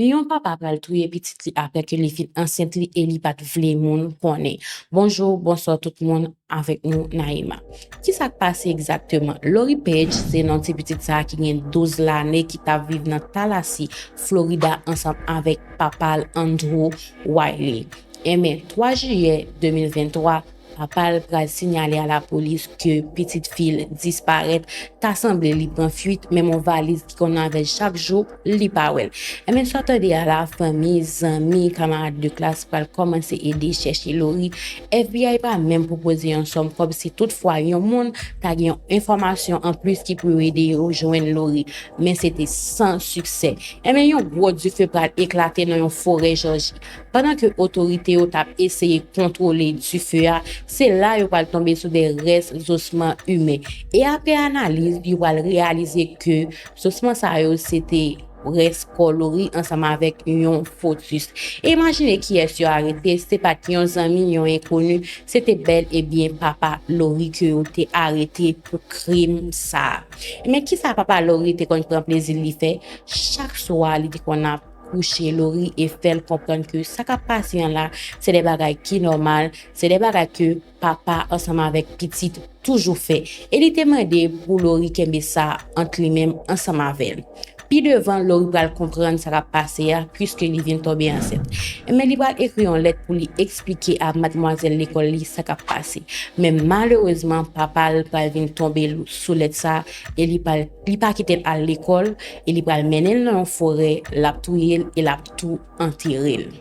Yon papa pral touye pitit li aprè ke li fin ansent li e li pat vle moun konnen. Bonjour, bonsoir tout moun, avèk nou Naïma. Kisa k pase egzakteman? Lori Page se non ti pitit sa ki gen 12 lane ki tap viv nan Tallahassee, Florida ansanm avèk papa l Andrew Wiley. Enben, 3 jiyè 2023, Papa l pral sinyale a lapolis ke pitit fi l disparèt, ta sanble li pran fuit, menm on valiz ki konn avè l chak jou, li pa wè l. Enben sa w tande a la, fanmi, zanmi, kamarad de klas pral kòmanse ede chèche Lori, FBI pa menm pwopoze yon sòm kòb si tout fwa yon moun ta gen yon enfòmasyon an plis ki pou yo ede yo jwenn Lori, men se te san siksè. Enben yon gwo dife pral eklate nan yon forè Jòji, Pandan ke otorite yo tap eseye kontwole dife a, se la yo pral tonbe sou de rès zosman imen. E apre analiz, yo pral reyalize ke zosman sa yo se te rès kò Lori ansanm avèk yon fotis. E imajine kiyès yo arete, se pat yon zanmi, yon enkoni, se te bèl e byen papa Lori ke yo te arete pou krim sa. Men kisa papa Lori te konn pran plezi li fè? Chak swa li te konn ap. kouche Lori e fè l konprann ke sa k ap pase an la se de bagay ki nòmal, se de bagay ke papa ansanm avèk pitit toujou fè e li te mande pou Lori kenbe sa ant li menm ansanm avè l. Pi devan Lori pral konprann sa k ap pase a puiske li vin tonbe ansent. Enben li pral ekri yon lèt pou li eksplike a madmwazèl lekòl li sa k ap pase. Men malerezman papa l pral vin tonbe sou lèt sa e li pral Li pa kite l al lekòl e li pral mennen l nan yon forè, l ap touye l e l ap tou antere l.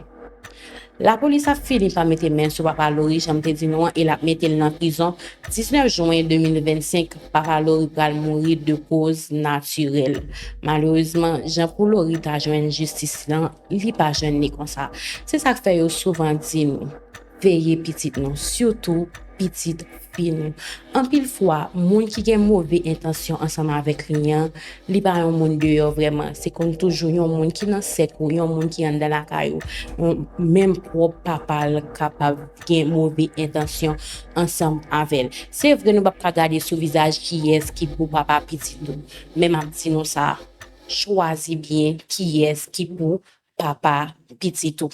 Lapolis ap fini pa mete men sou papa Lori jan m te di nou an e l ap mete l nan prizon, 19 jwen 2025 papa Lori pral mouri de koz natirèl. Malerezman jan pou Lori ta jwenn jistis lan li pa jwenn li konsa. Se sa k fè yo souvan di nou. Veye pitit nou, sitou pitit fi nou. Anpil fwa, moun ki gen move entansyon ansanm avèk li an, li pa yon moun deyò vrèman. Se konn toujou yon moun ki nan sèk ou, yon moun ki anndan lakay ou. Menm pwòp papa l kapab gen move entansyon ansanm avè l. Se vre nou pap ka gade sou vizaj kiyès ki pou papa pitit ou, men m ap di nou sa, chwazi byen kiyès ki pou papa pitit ou.